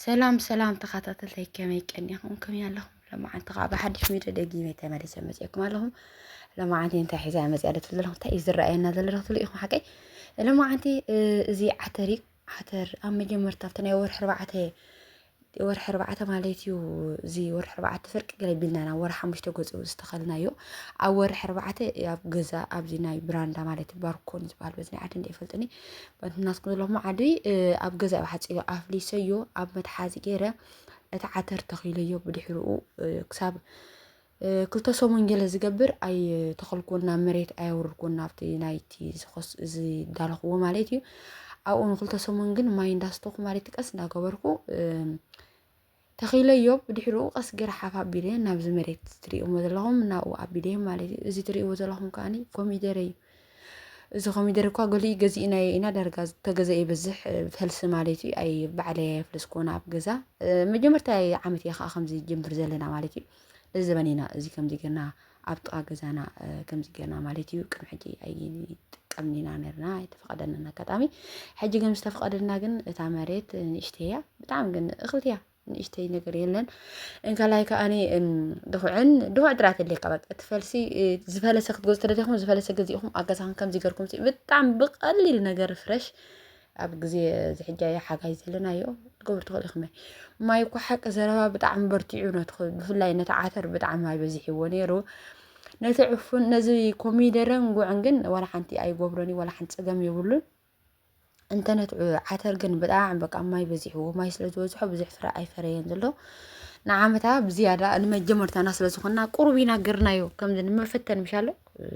ሰላም ሰላም ተኸታተልተይ ከመይ ቀኒኹም ከመይ ኣለኹም ለማዓንቲ ከዓ ብሓድሽ ሚድዮ ደጊመ ተመሊሰ መፅእኩም ኣለኹም ለማዓንቲ እንታይ ሒዛ መፅያ ዶ ትብል ዘለኹም እንታይ እዩ ዝረኣየና ዘሎ ዶ ትብሉ ኢኹም ሓቀይ ለማዓንቲ እዚ ዓተር እዩ ዓተር ኣብ መጀመርታ ኣብቲ ናይ ወርሒ ኣርባዕተ ወርሒ ኣርባዕተ ማለት እዩ እዚ ወርሒ ኣርባዕተ ፍርቂ ገለ ቢልና ናብ ወርሒ ሓሙሽተ ገፁ ዝተኸልናዮ ኣብ ወርሒ ኣርባዕተ ኣብ ገዛ ኣብዚ ናይ ብራንዳ ማለት እዩ ባርኮን ዝበሃል በዚ ናይ ዓዲ እንደ ይፈልጥኒ ናትኩም ዘለኹም ዓዲ እ፣ ኣብ ገዛ እዩ ሓፂዮ ኣፍሊሰዮ ኣብ መትሓዚ ገይረ እቲ ዓተር ተኺለዮ ብድሕሪኡ እ፣ ክሳብ ክልተ ሰሙን ገለ ዝገብር ኣይተኸልኩዎን ናብ መሬት ኣየውርድኩዎን ናብቲ ናይቲ ዝኸስ ዝዳለኽዎ ማለት እዩ ኣብኡ ንክልተ ሰሙን ግን ማይ እንዳስተኹ ማለት ቀስ እንዳገበርኩ ተኺለዮ ብድሕሪኡ ቀስ ገይረ ሓፍ ኣቢለ ናብዚ መሬት ትሪእዎ ዘለኹም ናብኡ ኣቢለ ማለት እዩ እዚ ትሪእዎ ዘለኹም ከዓኒ ኮሚደረ እዩ እዚ ኮሚደረ እኳ ገሊኡ ገዚእናዮ ኢና ዳርጋ ዝተገዘ ይብዝሕ ፈልሲ ማለት እዩ ኣይ ባዕለ የፍልስ ኮነ ኣብ ገዛ መጀመርታ ዓመት እየ ከዓ ከምዚ ጀምር ዘለና ማለት እዩ ለዘበን ኢና እዚ ከምዚ ገና ኣብ ጥቃ ገዛና ከምዚ ገና ማለት እዩ ቅድሚ ሕጂ ኣይጥቀምን ኢና ነርና ኣይተፈቀደናን ኣጋጣሚ ሕጂ ግን ዝተፈቀደና ግን እታ መሬት ንእሽተይ እያ ብጣዕሚ ግን እኽብቲ እያ ንእሽተይ ነገር የለን እንካላይ ከዓኒ ድኹዕን ድኹዕ ጥራት የድልየካ በቃ እቲ ፈልሲ ዝፈለሰ ክትገዙ ተደሊኹም ዝፈለሰ ገዚእኹም ኣብ ገዛኹም ከምዚ ገርኩም ብጣዕሚ ብቐሊል ነገር ፍረሽ ኣብ ግዜ ዝሕጃ ሓጋይ ዘለናዮ ክትገብሩ ትኽእሉ ኢኹም ማይ እኳ ሓቂ ዘረባ ብጣዕሚ በርቲዑ ነቲ ብፍላይ ነቲ ዓተር ብጣዕሚ ማይ በዚሕዎ ነይሩ ነቲ ዕፉን ነዚ ኮሚደረን ጉዕን ግን ዋላ ሓንቲ ኣይጎብሮን እዩ ዋላ ሓንቲ ፀገም የብሉን እንተነት ዓተር ግን ብጣዕሚ በቃ ማይ በዚሕዎ ማይ ስለ ዝበዝሖ ብዙሕ ፍረ ኣይፈረየን ዘሎ ንዓመታ ብዝያዳ ንመጀመርታና ስለ ዝኾና ቁሩብ ኢና ገርናዮ ከምዚ ንመፈተን ምሻሎ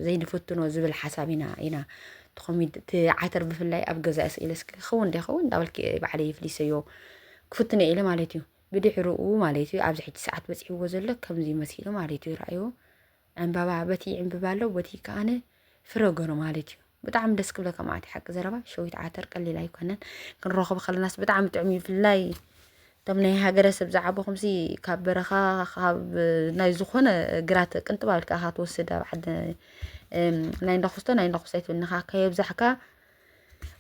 ዘይንፍትኖ ዝብል ሓሳብ ኢና ኢና ትኾሚድ እቲ ዓተር ብፍላይ ኣብ ገዛ ስኢለ እስኪ ክኸውን ዶ ይኸውን እንዳበልኪ ባዕለይ ይፍሊሰዮ ክፍትነ ኢለ ማለት እዩ ብድሕርኡ ማለት እዩ ኣብዚ ሕጂ ሰዓት በፂሕዎ ዘሎ ከምዚ መሲሉ ማለት እዩ ረኣይዎ ዕምባባ በቲ ይዕምብብ ኣሎ በቲ ከኣነ ፍረ ገሩ ማለት እዩ ብጣዕሚ ደስ ክብለካ ማዕቲ ሓቂ ዘረባ ሸዊት ዓተር ቀሊል ኣይኮነን ክንረኽቦ ከለናስ ብጣዕሚ ጥዑም እዩ ብፍላይ እቶም ናይ ሃገረሰብ ዝዓበኹምሲ ካብ በረኻ ካብ ናይ ዝኾነ ግራት ቅንጥብ ኣልካ ኢኻ ትወስድ ኣብ ዓዲ ናይ እንዳኹስቶ ናይ እንዳኹስቶ ኣይትብልንኻ ከየብዛሕካ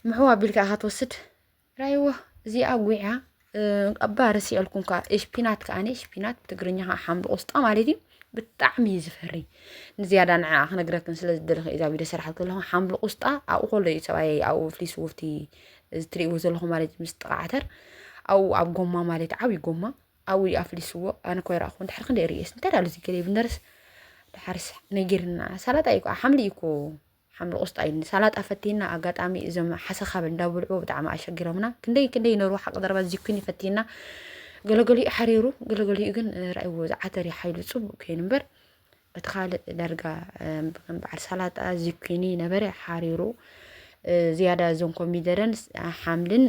ምሕው ኣቢልካ ኢኻ ትወስድ ራይዎ እዚኣ ጉያ እባ ረሲዐልኩም ከዓ እሽፒናት ከዓ እሽፒናት ብትግርኛ ከዓ ሓምሊ ቆስጣ ማለት እዩ ብጣዕሚ እዩ ዝፈሪ ንዝያዳ ንዓ ክነግረክን ስለ ዝደለኹ እዛ ቪድዮ ሰራሕ ከለኹ ሓምሊ ቆስጣ ኣብኡ ከሎ እዩ ፀባይ ኣብኡ ፍሊስ ውፍቲ እትሪእዎ ዘለኹ ማለት ምስ ጥቃዓተር ኣብኡ ኣብ ጎማ ማለት ዓብዪ ጎማ ኣብኡ እዩ ኣፍሊስዎ ኣነ ኮይ ረኣኹ ድሕሪ ክንደይ ርእየስ እንታይ ዳሉ ዝገለ ብነርስ ድሓርስ ነጊርና ሰላጣ እዩ ከዓ ሓምሊ እዩ እኮ ሓምሊ ቆስጣ እዩ ንሳላጣ ፈቲና ኣጋጣሚ እዞም ሓሰኻብ እንዳብልዑ ብጣዕሚ ኣሸጊሮምና ክንደይ ክንደይ ነሩ ሓቂ ዘረባ ዚኩኒ ፈቲና ገለገሊኡ ሓሪሩ ገለገሊኡ ግን ራእይዎ ዝዓተር እዩ ሓይሉ ፅቡቅ ኮይኑ እምበር እቲ ካልእ ዳርጋ ከም በዓል ሳላጣ ዚኩኒ ነበረ ሓሪሩ ዝያዳ እዞም ኮሚደረን ሓምልን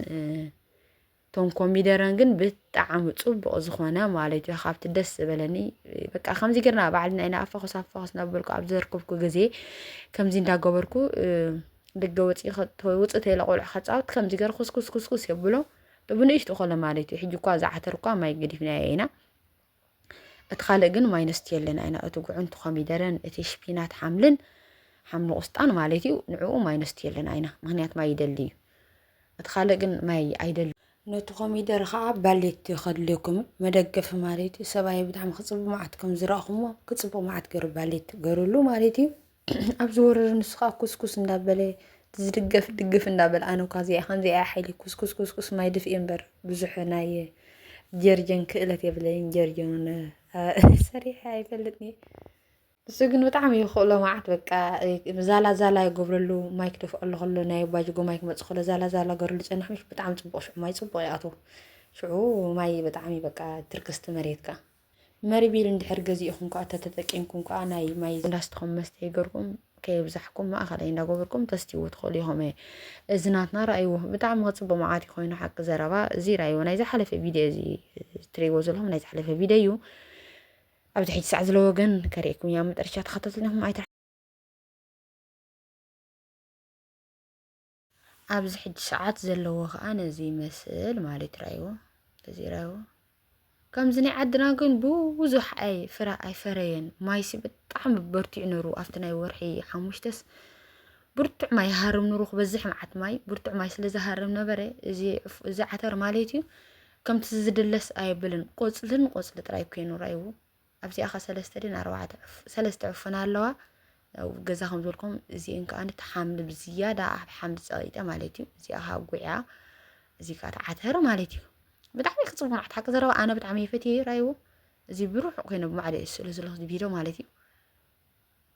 እቶም ኮሚደረን ግን ብጣዕሚ ጽቡቕ ዝኾነ ማለት እዩ ካብቲ ደስ ዝበለኒ በቃ ከምዚ ጌርና ባዕልና ኢና ኣፋኹስ ኣፋኹስ እናበልኩ ኣብ ዘርከብኩ ግዜ ከምዚ እንዳገበርኩ ደገ ወፂ ውፅ ተይለ ቆልዑ ከፃወት ከምዚ ገር ኩስኩስ ኩስኩስ የብሎ ብንእሽቱ ኮለ ማለት እዩ ሕጂ እኳ ዝዓተር እኳ ማይ ገዲፍና ኢና እቲ ካልእ ግን ማይነስት የለን ኣይና እቲ ጉዕንቲ ኮሚደረን እቲ ሽፒናት ሓምልን ሓምሊ ቁስጣን ማለት እዩ ንዕኡ ማይነስት የለን ኣይና ምክንያት ማይ ይደሊ እዩ እቲ ካልእ ግን ማይ ኣይደሊ ነቲ ኮሚደረ ከዓ ባሌት ከድልየኩም መደገፊ ማለት እዩ ሰብኣየ ብጣዕሚ ክፅቡ መዓት ከም ዝረእኹሞ ክፅቡ መዓት ገሩ ባሌት ገሩሉ ማለት እዩ ኣብ ዝወርር ንሱ ከዓ ኩስኩስ እንዳበለ ዝድገፍ ድግፍ እንዳበለ ኣነ እኳ እዚኣ ከምዚኣ እያ ሓይሊ ኩስኩስ ኩስኩስ ማይ ድፍኢ እምበር ብዙሕ ናይ ጀርጀን ክእለት የብለይን ጀርጀን እውን ሰሪሐ ኣይፈልጥን እየ ንሱ ግን ብጣዕሚ ይኽእሎ መዓት በቃ ዛላ ዛላ ይገብረሉ ማይ ክደፍኣሉ ከሎ ናይ ባጅጎ ማይ ክመፅእ ከሎ ዛላ ዛላ ገርሉ ፀንሕ ምሽ ብጣዕሚ ፅቡቅ ሽዑ ማይ ፅቡቅ ይኣትዎ ሽዑ ማይ ብጣዕሚ በቃ ትርክስቲ መሬትካ መሪቢል እንድሕር ገዚእኹም ከኣ ተተጠቂምኩም ከኣ ናይ ማይ ላስትኹም መስተይ ገርኩም ከየብዛሕኩም ማእኸላይ እንዳገበርኩም ተስትይዎ ትኽእሉ ኢኹም እየ እዚ ናትና ራእይዎ ብጣዕሚ ክፅቡቅ መዓት ኮይኑ ሓቂ ዘረባ እዚ ራእይዎ ናይ ዝሓለፈ ቪድዮ እዚ ትርእይዎ ዘለኹም ናይ ዝሓለፈ ቪድዮ እዩ ኣብዚ ሕጂ ሰዓት ዝለ ወገን ከርእየኩም እያ መጠረሻ ተኸታተልኩም ኣይተ ኣብዚ ሕጂ ሰዓት ዘለዎ ከኣ ነዚ ይመስል ማለት ራይዎ እዚ ራይዎ ከምዚ ናይ ዓድና ግን ብዙሕ ኣይ ፍረ ኣይፈረየን ማይሲ ብጣዕሚ በርቲዑ ነሩ ኣብቲ ናይ ወርሒ ሓሙሽተስ ብርቱዕ ማይ ይሃርም ነሩ ክበዝሕ መዓት ማይ ብርቱዕ ማይ ስለ ዝሃርም ነበረ እዚ እዚ ዓተር ማለት እዩ ከምቲ ዝድለስ ኣየብልን ቆፅልን ቆፅሊ ጥራይ ኮይኑ ራይዎ ኣብዚኣኻ ሰለስተ ድን ኣርባዕተ ሰለስተ ዕፉን ኣለዋ ኣብ ገዛ ከም ዝበልኩም እዚኤን ከዓ ተሓምሊ ብዝያዳ ኣብ ሓምሊ ፀቂጠ ማለት እዩ እዚኣ ከዓ ጉዕያ እዚ ከዓ ተዓተረ ማለት እዩ ብጣዕሚ ክፅቡቅ ናዕት ሓቂ ዘረባ ኣነ ብጣዕሚ ይፈትየ ራይዎ እዚ ብሩሕ ኮይነ ብማዕደ እዩ ስእሉ ዘለኹ ቪድዮ ማለት እዩ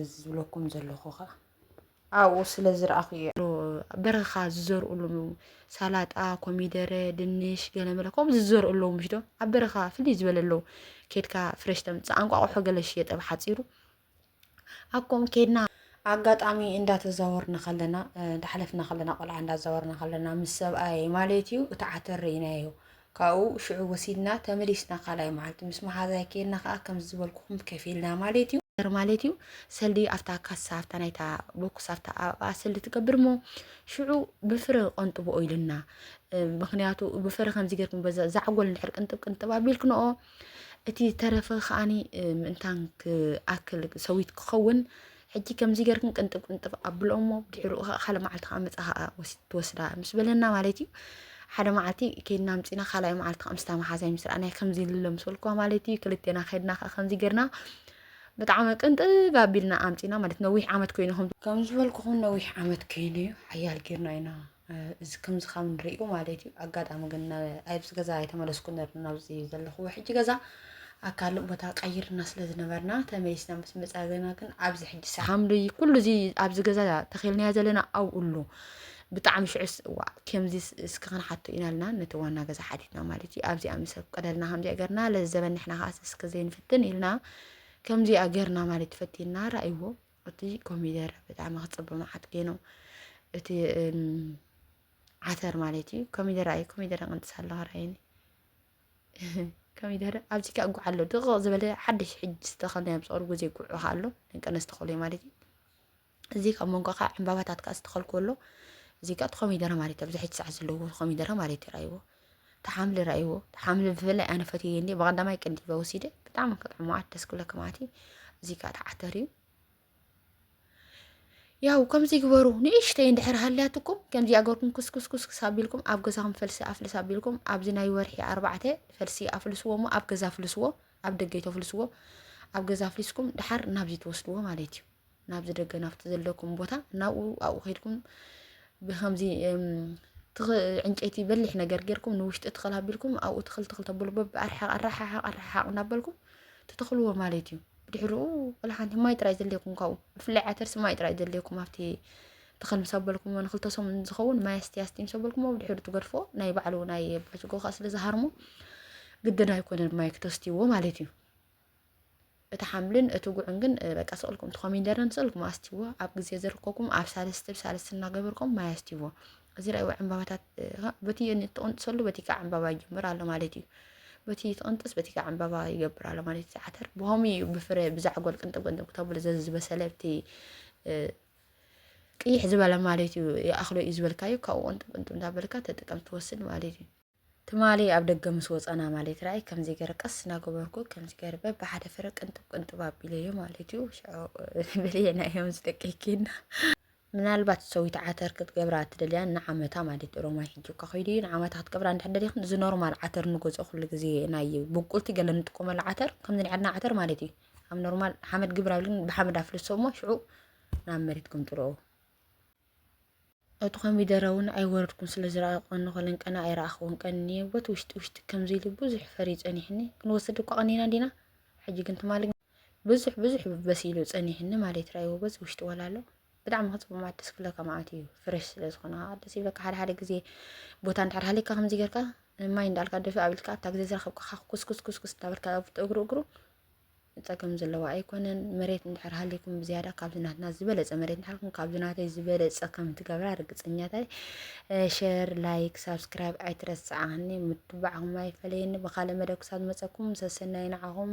እዚ ዝብለኩም ዘለኹ ኸኣ ኣብኡ ስለ ዝረኣኹ እየ። በረኻ ዝዘርኡሉ ሳላጣ፣ ኮሚደረ፣ ድንሽ ገለመለ ከምኡ ዝዘርኡ ኣለዉ ምሽ ዶ ኣብ በረኻ ፍልይ ዝበለ ኣለዉ ኬድካ ፍረሽ ተምፅእ ኣንቋቑሖ ገለ ሽየጥ ኣብ ሓፂሩ ኣኮም ኬድና ኣጋጣሚ እንዳተዛወርና ከለና እንዳሓለፍና ከለና ቆልዓ እንዳዛወርና ከለና ምስ ሰብኣይ ማለት እዩ እቲ ዓተር ርኢናዮ ካብኡ ሽዑ ወሲድና ተመሊስና ካልኣይ መዓልቲ ምስ መሓዛይ ኬድና ከዓ ከምዚ ዝበልኩኹም ከፊልና ማለት እዩ ነገር ማለት እዩ ሰልዲ ኣብታ ካሳ ኣብታ ናይታ ቦክስ ኣብታ ኣብኣ ሰልዲ ትገብር እሞ ሽዑ ብፍረ ቆንጥብኦ ኢልና ምክንያቱ ብፍረ ከምዚ ገርኩም በዛ ዛዕጎል ንድሕር ቅንጥብ ቅንጥብ ኣቢልክንኦ እቲ ተረፈ ከዓኒ ምእንታን ክኣክል ሰዊት ክኸውን ሕጂ ከምዚ ገርክን ቅንጥብ ቅንጥብ ኣብሎ እሞ ድሕሪኡ ከዓ ሓደ መዓልቲ ከዓ መፅኣ ከዓ ትወስዳ ምስ በለና ማለት እዩ ሓደ መዓልቲ ከይድና ምፅና ካልኣይ መዓልቲ ከዓ ምስታ መሓዛይ ምስ ረኣናይ ከምዚ ልለምሰልኳ ማለት እዩ ክልቴና ከድና ከዓ ከምዚ ገርና ብጣዕሚ ቅንጥብ ኣቢልና ኣምፂና ማለት ነዊሕ ዓመት ኮይኑ ከም ዝበልኩኹም ነዊሕ ዓመት ኮይኑ እዩ ሓያል ጌርና ኢና እዚ ከምዚ ካብ ንሪኡ ማለት እዩ ኣጋጣሚ ግን ኣብዚ ገዛ ኣይተመለስኩ ነርና ናብዚ ዘለኹ ሕጂ ገዛ ኣብ ካልእ ቦታ ቀይርና ስለ ዝነበርና ተመሊስና ምስ መፃ ገና ግን ኣብዚ ሕጂ ሰሓምሉ እዩ ኩሉ እዚ ኣብዚ ገዛ ተኺልናዮ ዘለና ኣብኡ ኣሎ ብጣዕሚ ሽዑስ እዋ ከምዚ እስኪ ክንሓቶ ኢና ልና ነቲ ዋና ገዛ ሓቲትና ማለት እዩ ኣብዚኣ ምስ ቅደልና ከምዚኣ ገርና ለዘበን ንሕና ከዓስ እስኪ ዘይንፍትን ኢልና ከምዚኣ ገርና ማለት ፈቲና ረኣይዎ እቲ ኮሚደረ ብጣዕሚ ክፅብቅ መዓት ገይኑ እቲ ዓተር ማለት እዩ ኮሚደረ እዩ ኮሚደረ ቅንጥስ ኣሎ ራይኒ ኮሚደረ ኣብዚ ከዓ ጉዕ ኣሎ ድቕቕ ዝበለ ሓድሽ ሕጂ ዝተኸልናዮ ኣብ ፀሩ ግዜ ጉዕ ከዓ ኣሎ ንቀነስ ተኸሉ እዩ ማለት እዩ እዚ ካብ መንጎ ከዓ ዕምባባታት ከዓ ዝተኸልኩ ኣሎ እዚ ከዓ እቲ ኮሚደረ ማለት እዩ ኣብዚ ሕጂ ሰዓት ዘለዎ ኮሚደረ ማለት እዩ ራይዎ ተሓምሊ ራእይዎ ተሓምሊ ብፍላይ ኣነ ፈትየ እንዲ ብቀዳማይ ቅንዲበ ወሲደ ብጣዕሚ ክጥዕሞ ዓት ደስ ክብለኪ ማዕቲ እዚ ከዓ ተዓተር እዩ ያው ከምዚ ግበሩ ንእሽተይ እንድሕር ሃልያትኩም ከምዚ ኣገርኩም ኩስኩስኩስ ኣቢልኩም ኣብ ገዛኹም ፈልሲ ኣፍልስ ኣቢልኩም ኣብዚ ናይ ወርሒ ኣርባዕተ ፈልሲ ኣፍልስዎ እሞ ኣብ ገዛ ኣፍልስዎ ኣብ ደገ ተፍልስዎ ኣብ ገዛ ኣፍሊስኩም ድሓር ናብዚ ትወስድዎ ማለት እዩ ናብዚ ደገ ናብቲ ዘለኩም ቦታ ናብኡ ኣብኡ ከድኩም ብከምዚ ዕንጨይቲ በሊሕ ነገር ጌርኩም ንውሽጢ ትኽል ኣቢልኩም ኣብኡ ትኽል ትኽል ተብሉ በብኣርሓቕ ኣረሓሓቕ ኣረሓሓቕ እናበልኩም ትተኽልዎ ማለት እዩ ብድሕሪኡ ወላ ሓንቲ ማይ ጥራይ ዘድልየኩም ካብኡ ብፍላይ ዓተርሲ ማይ ጥራይ ዘድልየኩም ኣብቲ ትኽል ምስ ኣበልኩሞ ንክልተ ሰሙን ዝኸውን ማይ ኣስቲ ኣስቲ ምስ ኣበልኩሞ ብድሕሪ ትገድፎ ናይ ባዕሉ ናይ ባጅጎ ከዓ ስለ ዝሃርሞ ግድን ኣይኮነን ማይ ክተስትይዎ ማለት እዩ እቲ ሓምልን እቲ ጉዕን ግን በቃ ስቕልኩም እቲ ኮሚንደርን ስቕልኩም ኣስትይዎ ኣብ ግዜ ዝርከኩም ኣብ ሳልስቲ ብሳልስቲ እናገበርኩም ማይ ኣስትይዎ እዚ ላይዎ ዕምባባታት በቲ ትቕንጥሰሉ በቲ ከዓ ዕምባባ ይጅምር ኣሎ ማለት እዩ በቲ ትቕንጥስ በቲ ከዓ ዕምባባ ይገብር ኣሎ ማለት እዩ ዓተር ብኸምኡ እዩ ብፍረ ብዛዕጎል ቅንጥብ ቅንጥብ ክተብሉ ዝበሰለ እቲ ቅይሕ ዝበለ ማለት እዩ ይኣኽሎ እዩ ዝበልካዩ ካብኡ ቅንጥብ ቅንጥብ እንዳበልካ ተጥቀም ትወስድ ማለት እዩ ትማሊ ኣብ ደገ ምስ ወፃና ማለት ራይ ከምዚ ገረ ቀስ እናገበርኩ ከምዚ ገረ በብሓደ ፍረ ቅንጥብ ቅንጥብ ኣቢለዮ ማለት እዩ ሽዑ በልየና እዮም ዝደቀይኪና ምናልባት ሰዊት ዓተር ክትገብራ እትደልያ ንዓመታ ማለት እዩ ሮማይ ሕጂ እኳ ከይዱ እዩ ንዓመታ ክትገብራ እንድሕር ደሊኹም እዚ ኖርማል ዓተር ንገዝኦ ኩሉ ግዜ ናይ ብቁልቲ ገለ ንጥቀመሉ ዓተር ከምዚ ናይ ዓድና ዓተር ማለት እዩ ኣብ ኖርማል ሓመድ ግብር ኣብልን ብሓመድ ኣፍልሶ እሞ ሽዑ ናብ መሬት ክምጥልኦ እቲ ኮሚደረ ውን ኣይወረድኩን ስለ ዝረኣየ ቆኒ ኮለን ቀና ኣይረኣኽዎን ቀንየ ቦቲ ውሽጢ ውሽጢ ከምዚ ኢሉ ብዙሕ ፈርዩ ጸኒሕኒ ክንወስድ እኳ ቀኒና እንዲና ሕጂ ግን ትማሊ ብዙሕ ብዙሕ በሲሉ ጸኒሕኒ ማለት ራይዎ በዚ ውሽጢ ወላሎ ብጣዕሚ ክጽቡቅ ማለት ደስ ክብለካ ማለት እዩ ፍረሽ ስለ ዝኾነ ከዓ ደስ ይብለካ ሓደ ሓደ ግዜ ቦታ እንድሕር ሃሊካ ከምዚ ጌርካ ማይ እንዳልካ ደፊ ኣብልካ ኣብታ ግዜ ዝረኸብካ ኩስኩስኩስኩስ እንዳበልካ እግሩ እግሩ ፀገም ዘለዎ ኣይኮነን። መሬት እንድሕር ሃሊኩም ብዝያዳ ካብዚ ናትና ዝበለፀ መሬት እንድሕርኩም ካብዚ ናተይ ዝበለፀ ከም ትገብራ ርግፀኛታይ ሸር ላይክ ሳብስክራይብ ኣይትረስዓኒ ምትባዕኹም ኣይፈለየኒ ብካልእ መደብ ክሳብ ዝመፀኩም ሰሰናይ ንዓኹም